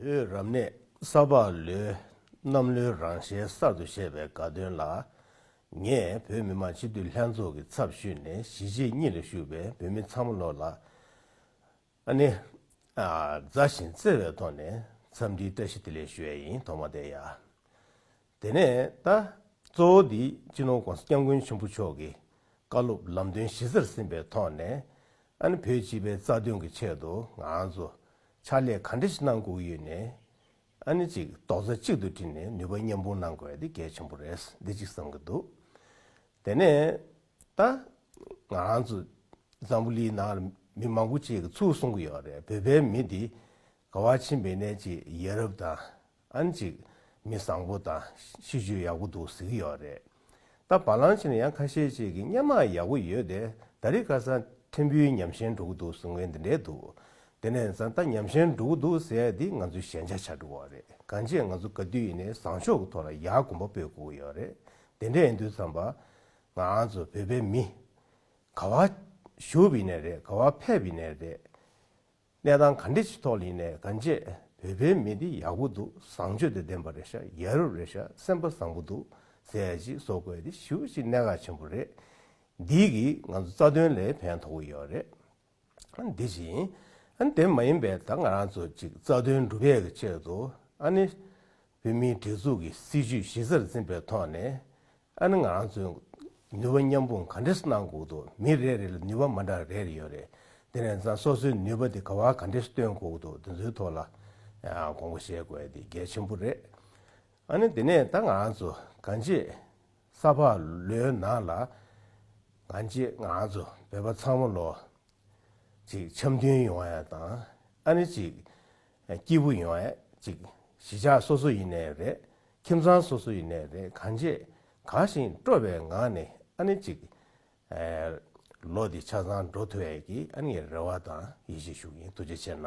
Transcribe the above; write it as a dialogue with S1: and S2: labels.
S1: བོད་རབ་གནས་ས་ཕག་ལོའི་གནམ་ལོའི་རང་ཞལ་གསར་དུ་བཞད་པའི་དགའ་སྟོན་ལ། ངས་བོད་མི་མང་སྤྱི་འཐུས་ལྷན་ཚོགས་ཀྱི་ཚབ་ཞུས་ནས་གཞིས་བྱེས་གཉིས་ལ་ཞུགས་པའི་བོད་མི་ཚང་མ་ལོ་ལ་ཨ་ནེ། མཛའ་ཞིང་བརྩེ་བའི་ཐོག་ནས་འཚམས་འདྲིའི་བཀྲ་ཤིས་བདེ་ལེགས་ཞུ་ཡ་ཡིན་དོགས་མ་བསྡད་ཡ། དེ་ནས་ད་གཙོ་བོ་འདི་སྤྱི་ནོར ྋགོང་ས ྋསྐྱབས་མགོན་ཆེན་པོ་མཆོག་གི་བཀའ་སློབ་ལམ་སྟོན་གཞི་རྩར་ཟིན་པའི་ཐོག་ནས་ཨ་ནི་བོད་སྤྱི་པའི་རྩ་དོན་གྱི་ཆེད་དུ་ང་ཚོ་ཕྱག་ལས་ག་འདྲ་ཞིག་གནང་དགོས་ཡོད་ནས་ཨ་ནི་ཅིག་རྡོག་རྩ་གཅིག་ཏུ་དྲིལ་ནས་ནུས་པ་མཉམ་སྤུངས་གནང་དགོས་འདི་གལ་ཆེན་པོ་རེད་འདི་གཅིག་བསམ་གྱི་འདུག་དེ་ནས་ད་ང་ཚོ་འཛམ་བུ་ལིའི་ནང་ལ་མི་མང་པོ་ཅིག་གིས་ཚུར་གསུང་གི་ཡོད་རེད་བོད་པའི་མི་འདི་དགའ་བ་ཆེན་པོས་ནས་ཅིག་ཡེ་རབ་དང་ཨང་གཅིག། མི་བཟང་པོ་དང་གཤིས་སྤྱོད་ཡག་པོ་འདུག་གཟིགས་ཀྱི་ཡོད་རེད། ད་བ་ལང་བྱས་ན་ཡང་ཁ་ཤས་ཅིག་གིས་སྙན་མངས་ཡག་པོ་ཡོད་དེ་ད་རིས་ཀ་སང་ཕྲན་བུའི་ཉམས་ཞན་འགྲོ་གི་འདུག་གསུང་མཁན་འདི་འདྲས་འདུག་དེ་ནས་བཟང་ད་ཉམས་ཞན་འགྲོ་གི་འདུག་ཟེར་ཡ་འདི་ང་ཚོའི་ཞན་ཆ་ཆགས་འགྲོ་བ་རེད་གང་བྱས་ང་ཚོ་ག་དུས་ཡིན་ནའི་བཟང་ཕྱོགས་ཀྱི་ཐོག་ལ་ཡག་གོམ་པ་སྤོས་དགོས་ཀྱི་ཡོད་རེད་དེ་འདྲས་ཡིན་དུས་ཚང་པ་ང་ཨང་ཚོ་བོད་པའི་མི། ག་བ། ཞུབ་ཡིན་ནའི་རེད་ག་བ་ཕེབས་ཡིན་ནའི་རེད། གནས་སྟངས་ག་འདྲི་ཞིག་ཐོག་ལིན་ནས་ག་འབྱེད་བོད་པའི་མི་འདི་ཡག་པོ་འདུག་བཟང་སྤྱོད་དུ་ལྡན་པ་རེད་ཤ་རྒྱལ་རབས་རེད་ཤ་སེམས་པ་བཟང་པོ་འདུག་ཟས་ཅིག་བཟོ་དགོས་དེ་ཞིབ་པོ་ཅིག་གནད་འགག་ཆེན་པོ་རེད། འདིས་གིས་ང་ཚོ་རྩ་དོན་ལས་ཕན་ཐོག་གི་ཡོད་རེད། འདི་བཞིན་དེ་མ་ཡིན་པའི་ད་ང་རང་ཚོ་ཅིག་རྩ་དོན་འགྲུབ་ཡས་ཀྱི་ཆེད་དུ་ཨ་ནི་བོད་མིའི་སྒྲིག་འཛུགས་ཀྱི་སྲིད་ཇུས་གཞི་རྩར་འཛིན་པའི་ཐོག་ནས་ཨ་ནི་ང་རང་ཚོས་ནུས་པ་མཉམ་སྤུངས་ག་འདྲེ་སུ་གནང་འགོག་འདུག་མི་རེ་རེ་ལ་ནུས་པ་མ་འདྲ་རེ་རེ་ཡོད་རེད་དེ་ནས་བཟང་སོ་སོའི་ནུས་པ་དེ་ག་བར་ག་འདྲེ་སུ་སྟོན་འགོག་འདུག་དེ་ཚོའི་ཐོག་ལ་དགོངས་པ་བཞེས་དགོས་དེ་གལ་ཆེན་པོ་རེད། ཨ་ནི་དེ་ནས་ད་ང་རང་ཚོ་ག་འདྲེ་ས་ཕག་ལོའི་ནང་ལ་ག་འདྲེ་ང་རང་ཚོ་བོད་པ་ཚང་མ་ལོ་གཅིག་འཆམ་མཐུན་ཡོང་བ་ཡང་དང་ཨ་ནི་གཅིག་སྐྱིད་པོ་ཡོང་ཨེ་ཅིག། གཞིས་ཆགས་སོ་སོ་ཡིན་ནས་རེད། ཁྱིམ་ཚང་སོ་སོ་ཡིན་ནས་རེད་གང་བྱེད། ག་བཞིན་སྤྲོ་བའི་ངང་ནས་ཨ་ནི་ཅིག། ལོ་འདི་ཆ་ཚང་འགྲོ་ཐུབ་ཨེ་ཀི་ཨ་ནི་རེ་བ་དང་ཡིད་ཆེས་ཞུ་གིན་འདུག་ཅི་བྱེད་ན།